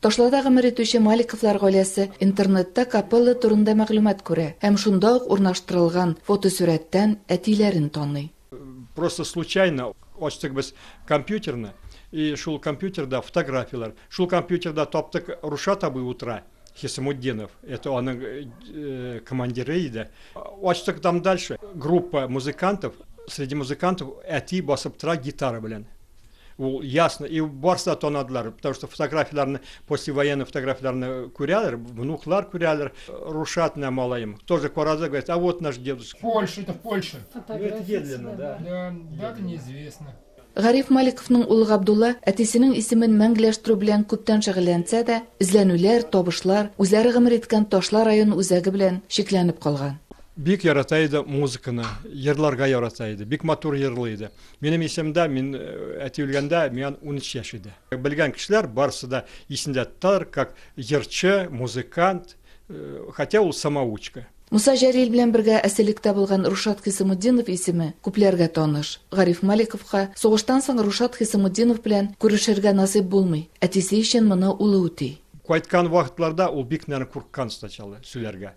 Ташларда гомер итүче Маликовлар гаиләсе интернетта капелла турында мәгълүмат күрә һәм шунда ук урнаштырылган фотосурәттән әтиләрен таный. Просто случайно ачтык без компьютерны и шул компьютерда фотографияләр. Шул компьютерда таптык Рушат абый утыра, Хисамутдинов, это аның командиры иде. Ачтык там дальше, группа музыкантов, среди музыкантов әти басып тора гитара белән. Ул ясно, и барсы да танадылар, потому что фотографияләрне, послевоенный фотографияләрне күрәләр, внуклар күрәләр. Рушат менә малаем, тоже карады, говорит, а вот наш дедушка. Польша, это Польша. Медленно, да. Да, дата неизвестна. Гариф Маликовның улы Габдулла әтисенең исемен мәңгеләштерү белән күптән шөгыльләнсә дә, эзләнүләр, табышлар, үзләре гомер иткән Ташлар район үзәге белән чикләнеп калган. Бик ярата иде музыканы, җырларга ярата иде, бик матур җырлый иде. Минем исемдә, мин әти үлгәндә, миан унөч яшь иде. Белгән кешеләр барысы да исендә тоталар, как җырчы, музыкант, хотя ул самоучка. Муса Җәлил белән бергә әсирлектә булган Рушат Хисамутдинов исеме күпләргә таныш. Гариф Маликовка сугыштан соң Рушат Хисамутдинов белән күрешергә насыйп булмый, әтисе өчен моны улы үти. Кайткан вакытларда ул бик, наверное, курыккан сначала сөйләргә.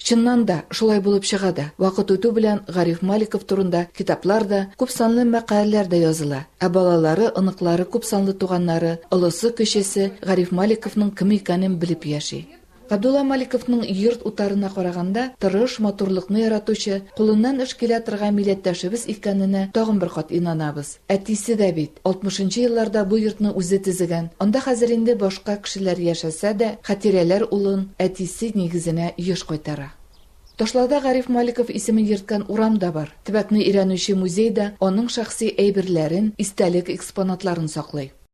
Чыннан да, шулай булып чыга да, вакыт үтү белән Гариф Маликов турында китаплар да, күпсанлы мәкаләләр дә языла, ә балалары, оныклары күпсанлы туганнары, олысы, кечесе Гариф Маликовның кем икәнен белеп яши. Габдулла Маликовның йорт утарына караганда, тырыш, матурлыкны яратучы, кулыннан эш килә торган милләттәшебез икәненә тагын бер кат инанабыз. Әтисе дә бит, алтмышынчы елларда бу йортны үзе төзегән. Анда хәзер инде башка кешеләр яшәсә дә, хатирәләр улын әтисе нигезенә еш кайтара. Ташлауда Гариф Маликов исемен йөрткән урам да бар. Төбәкне өйрәнүче музей да аның шәхси әйберләрен, истәлек экспонатларын саклый.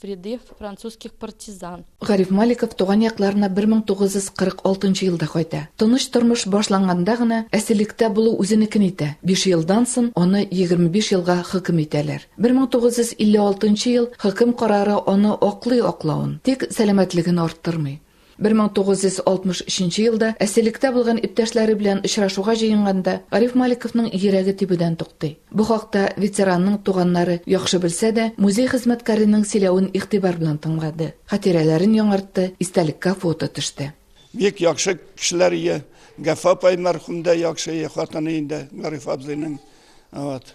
Вреды французских партизан. Гариф Маликов туган якларына 1946 нчы елда кайта. Тыныч тормыш башланганда гына әсирлектә булу үзенекен итә, биш елдан сон аны 25 елга хөкем итәләр. 1956 нчы ел хөкем карары аны аклый аклавын, тик сәламәтлеген арттырмый. 1963 елда әсирлектә булган иптәшләре белән очрашуга җыенганда Гариф Маликовның йөрәге тибүдән туктый. Бу хакта ветеранның туганнары яхшы белсә дә, музей хезмәткәренең сөйләвен игътибар белән тыңлады, хатирәләрен яңартты, истәлеккә фото төште. Бик яхшы кешеләр ие. Гафа апай мәрхүм дә яхшы хатыны инде Гариф абзыйның. Вот.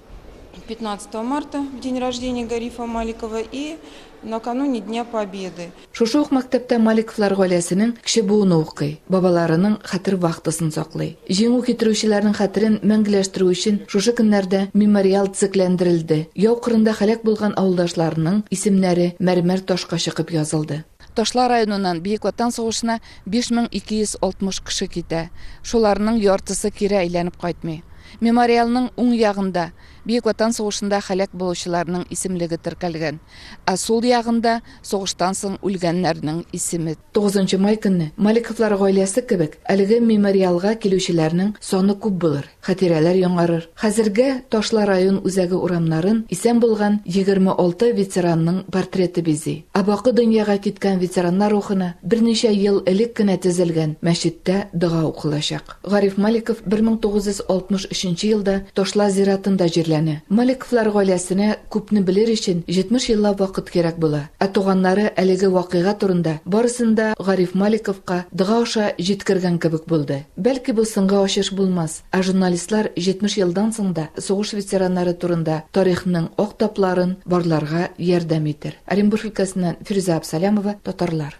15 марта в день рождения Гарифа Маликова и накануне Дня Победы. Шушы ук мәктәптә Маликовлар гаиләсенең кече буыны укый, бабаларының хәтер вахтасын саклый. Җиңү китерүчеләрнең хәтерен мәңгеләштерү өчен шушы көннәрдә мемориал төзекләндерелде, яу кырында һәлак булган авылдашларының исемнәре мәрмәр ташка чыкып язылды. Ташла районыннан Бөек Ватан сугышына 5260 кеше китә, шуларның яртысы кире әйләнеп кайтмый. Мемориалның уң ягында Бөек Ватан сугышында һәлак булучыларның исемлеге теркәлгән, ә сул ягында сугыштан соң үлгәннәрнең исеме. Тугызынчы май көнне Маликовлар гаиләсе кебек әлеге мемориалга килүчеләрнең саны күп булыр. Хәтирәләр яңарыр. Хәзергә Ташла район үзәге урамнарын исән булган 26 ветеранның портреты бизи. Ә бакый дөньяга киткән ветераннар рухына берничә ел элек кенә төзелгән мәчеттә дога укылачак. Гариф Маликов 1963 елда Ташла зиратында җирләнә. Маликовлар гаиләсенә күпне белер өчен 70 еллап вакыт кирәк була. Ә туганнары әлеге вакыйга турында барысын да Гариф Маликовка дога аша җиткергән кебек булды. Бәлки бу соңгы ачыш булмас, ә журналистлар 70 елдан соң да сугыш ветераннары турында тарихның ак тапларын барларга ярдәм итер. Оренбург өлкәсеннән Фирүзә Абсалямова, Татарлар.